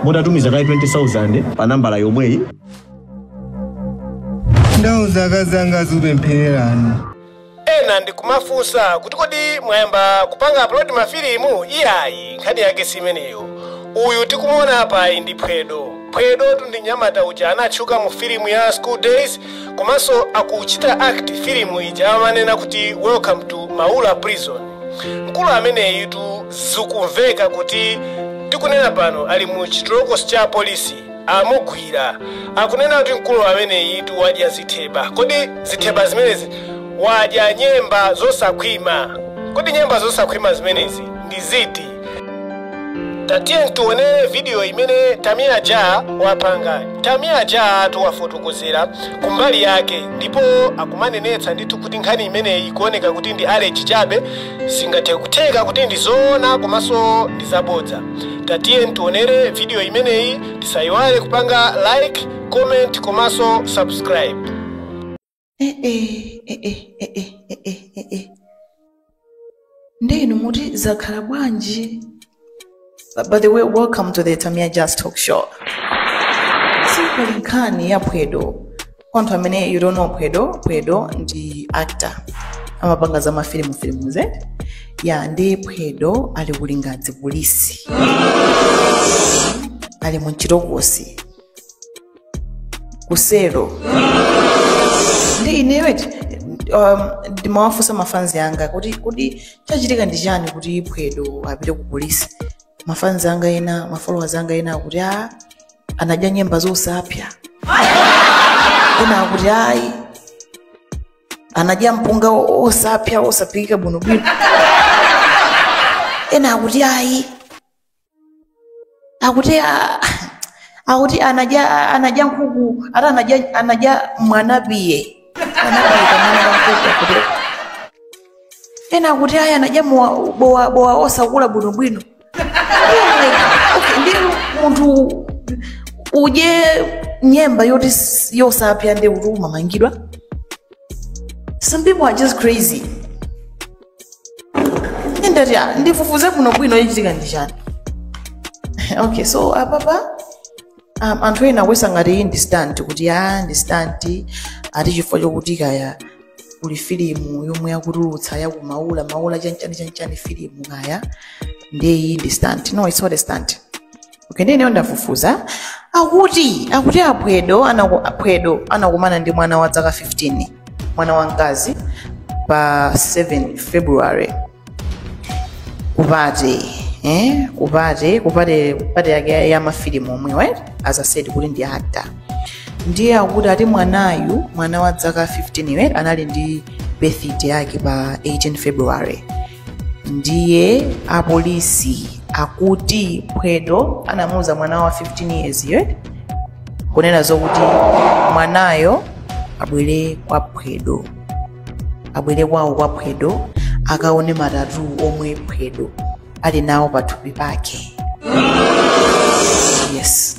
mutatumiza kaye 20000 pa nambala yomweyi ndauza akazi anga azikupemphererani ena ndikumafunsa kuti kodi mwayamba kupanga upload mafilimu iyayi nkhani yake simeneyo uyu tikumuona apayi ndi phwedo phwedotu ndi mnyamata uja anatchuka mu filimu ya school days komanso akuchita act filimu ija amanena kuti welcome to maula prison mkulu ameneyitu zikumveka kuti tikunena pano ali mu chitolokosi cha polisi amugwira akunena kuti mkulu ameneyitu wadya zitheba kodi zitheba zimenezi wadya nyemba zosakhwima kodi nyemba zosakhwima zimenezi ndi ziti tatiyeni tionere vidiyo imene tamia ja wapanga tamia ja tu wafotokozera kumbali yake ndipo akumanenetsa ndithu kuti nkhani imeneyi ikuoneka kuti ndi alleged chabe zingathe kutheka kuti ndi zoona komanso ndi zabodza tatiyeni tionere vidiyo imeneyi tisayiwale kupanga like comment komanso subscribe ee ee ee ee ee nde inu muti zakhala bwanji By the way, welcome to the Tamia Ja Talk Show. Simply nkhani ya Phwedo. Kwa anthu amene you don't know Phwedo, Phwedo ndi actor. Amapanga za mafilimufilimuzi. Ya nde Phwedo ali ku Lingadzi polisi. Ali mu chitokosi. ku selo nde ineyo eti um, ndimawafunsa mafanzi anga kuti kodi chachitika ndi chani kuti phwedo apite ku polisi mafanzi anga ena mafollowers anga ena akuti a anadya nyemba zosapsa ena akuti ayi anadya mpunga o- osapsa osaphikika bwinobwino ena akuti ayi akuti ah, akuti anadya anadya nkhuku ati anadya anadya mwanapiye mwanapiye kamwana ka nkhuku akuti ena akuti ayi anadya mowa- bowa bowa osakula bwinobwino Okay, nde munthu udye nyemba yoti s- yosapsa nde kuti umamangidwa some people are just crazy ndati ah, ndifufuze bwino bwino chachitika ndi chani okay so apapa um, anthu ena akuyesa ngati iyi ndi stunt kuti a ndi stunt ati chifukwa chokuti kaya kuli filimu yomwe akutulutsa yakumaula maula chanchani chanchani filimu kaya ndiye iyi ndi stunt no it's not a stunt okay ndineyo ndafufuza akuti akuti aphwedo anaku- aphwedo anakumana ndi mwana wa dzaka 15 mwana wa mkazi pa 7 february kupate eh? kupate kupate kupate yake ya- ya mafilimu omwe right? as i said kuti ndi actor ndiye akuti ati mwanayu mwana wa dzaka 15 right? anali ndi birthday yake pa 18 february ndiye apolisi akuti phwedo anamuuza mwana wa 15 years yo kunena zokuti mwanayo abwere kwa phwedo abwere kwawo kwa phwedo akaone ma tattoo omwe phwedo ali nawo pathupi pake yes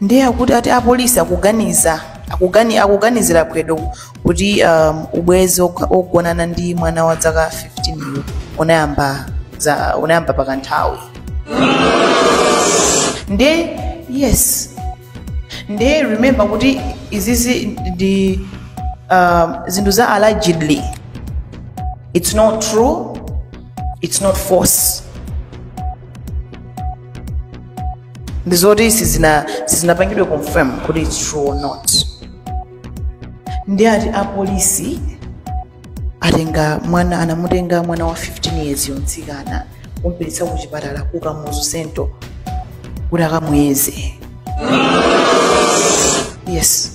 ndiye akuti ati apolisi akuganiza akugani, akuganizira phwedo kuti um, ubwenzi wokha- wogonana ndi mwana wa dzaka 15 uyu unayamba za unayamba pakanthawi nde yes nde remember kuti izizi ndi um, zinthu za allegedly it's not true it's not false ndi zoti sizina- sizinapangidwe confirm kuti its true or not ndi ati apolisi atenga mwana anamutenga mwana wa 15 years yo mtsikana kumpititsa ku chipatala ku kamuzu central kuti akamuyeze yes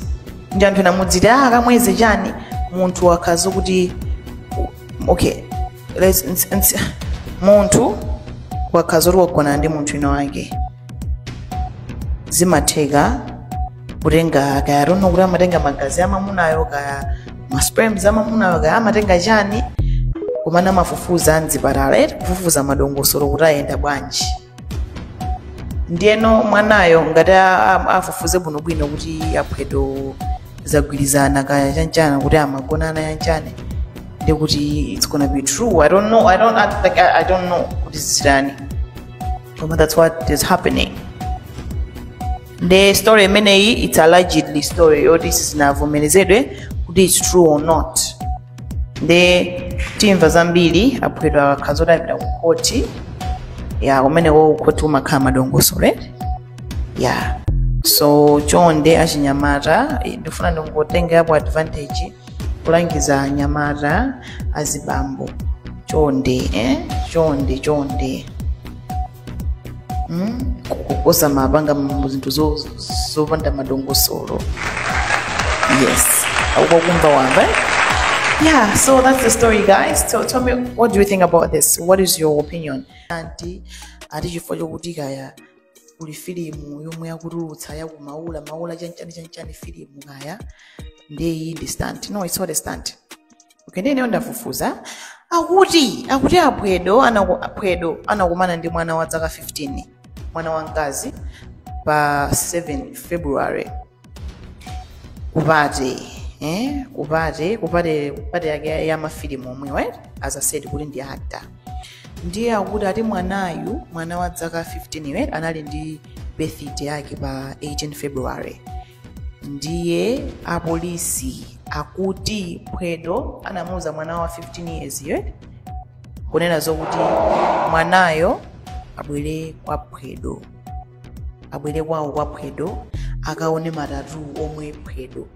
nde anthu ena muziti ah akamuyeze chani munthu akakhala kuti okay Let's- ns- ns- munthu akakhala kuti wagonana ndi munthu wina wake zimatheka kutenga kaya i don't know kuti amatenga magazi amamunayo kaya masperms amamunayo kaya amatenga chani komano amafufuza mzipatala eti kufufuza madongosolo kuti ayenda bwanji ndiyeno mwanayo ngati a- a- afufuze bwinobwino kuti aphwedo zagwirizana kaya chanichani kuti amagonana chanichani ndi kuti it's gonna be true i don't know i don't act like i, I don't know kuti zitani koma that's what is happening nde story imeneyi it's allegedly story yoti sizinavomerezedwe kuti it's true or not nde timva zambiri aphwedo akakhala zoti apita ku khoti ya kumene ku khoti kumakhala madongosolo ya so chonde achinyamata eh, ndifuna ndingotengerapo advantage kulangiza anyamata azibambo chonde eh? chonde chonde kuposa mapanga mu zinthu zo- zo- zopanda madongosolo yes akukumva wamva eh? yeah so that's the story guys so tell me what do you think about this what is your opinion ati ati chifukwa chokuti kaya kuli filimu yomwe yakutulutsa yakumaula maula chanchani chanchani filimu kaya ndiye iyi ndi stunt no it's not a stunt okay ndi ineyo ndafufuza akuti akuti aphwedo anaku- aphwedo anakumana ndi mwana wa dzaka 15 mwana wamkazi pa 7 february ku party eh? ku party ku party ku party yake ya- ya mafilimu omwe right? as i said kuti ndi actor ndiye akuti ati mwanayu mwana wa dzaka 15 right? anali ndi birthday yake pa 18 february ndiye apolisi akuti phwedo anamuuza mwana wa 15 years yo kunena zokuti mwanayo abwere kwa phwedo abwere kwawo kwa phwedo akaone ma tattoo omwe phwedo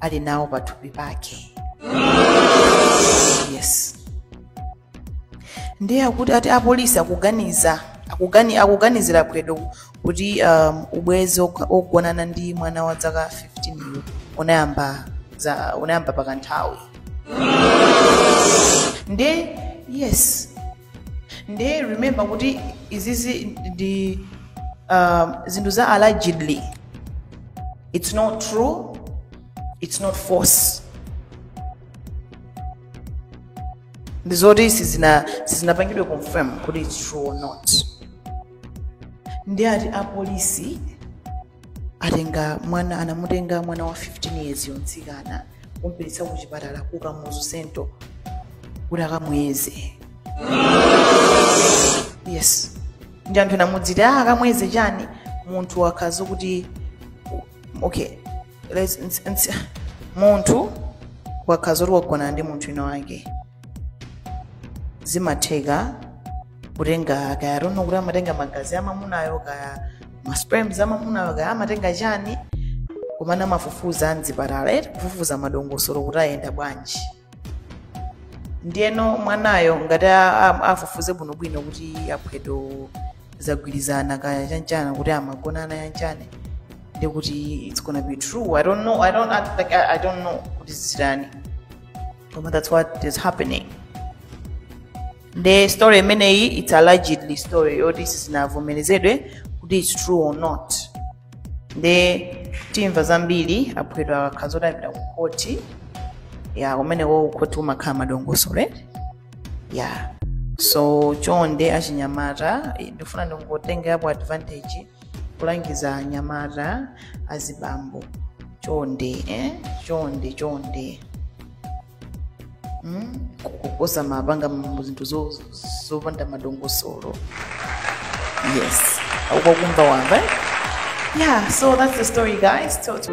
ali nawo pathupi pake yes ndiye akuti ati apolisi akuganiza akugani, akuganizira phwedo kuti um, ubwenzi wog- wogonana ndi mwana wa dzaka 15 yu unayamba za unayamba pakanthawi ndiye yes ndiye remember kuti izizi ndi um, zinthu za allegedly it's not true it's not false ndi zoti sizina- sizinapangidwe confirm kuti its true or not ndiye ati apolisi atenga mwana anamutenga mwana wa 15 years yo mtsikana kumpititsa ku chipatala ku kamuzu Central kuti akamuyeze yes ndiye anthu ena muziti ah akamuyeze chani munthu akakhala kuti okay Let's- ns- ns- munthu akakhala kuti wagonana ndi munthu winawake zimatheka kutenga kaya I don't know kuti amatenga magazi amamunayo kaya masperms amamunayo kaya amatenga chani komano amafufuza am'zipatala eti kufufuza madongosolo kuti ayenda bwanji ndiyeno mwanayo ngati a- a- afufuze bwinobwino kuti aphwedo zagwirizana kaya chanchani kuti amagonana chanchani ndiye kuti it's gonna be true i don't know i don't act like i, I don't know kuti zitani koma that's what is happening ndi story imeneyi it's allegedly story yoti sizinavomerezedwe kuti it's true or not nde timva zambiri aphwedwa akakhala zoti apita ku khoti ya kumeneko kukhoti umakhala madongosolo eti ya so chonde achinyamata eh, ndifuna ndingotengerapo advantage kulangiza anyamata azibambo chonde eh? chonde chonde kugotsa mabanga mu zinthu zo- zo- zopanda madongosolo yes akwakumva wamva eh? yeah so that's the story guys so, so.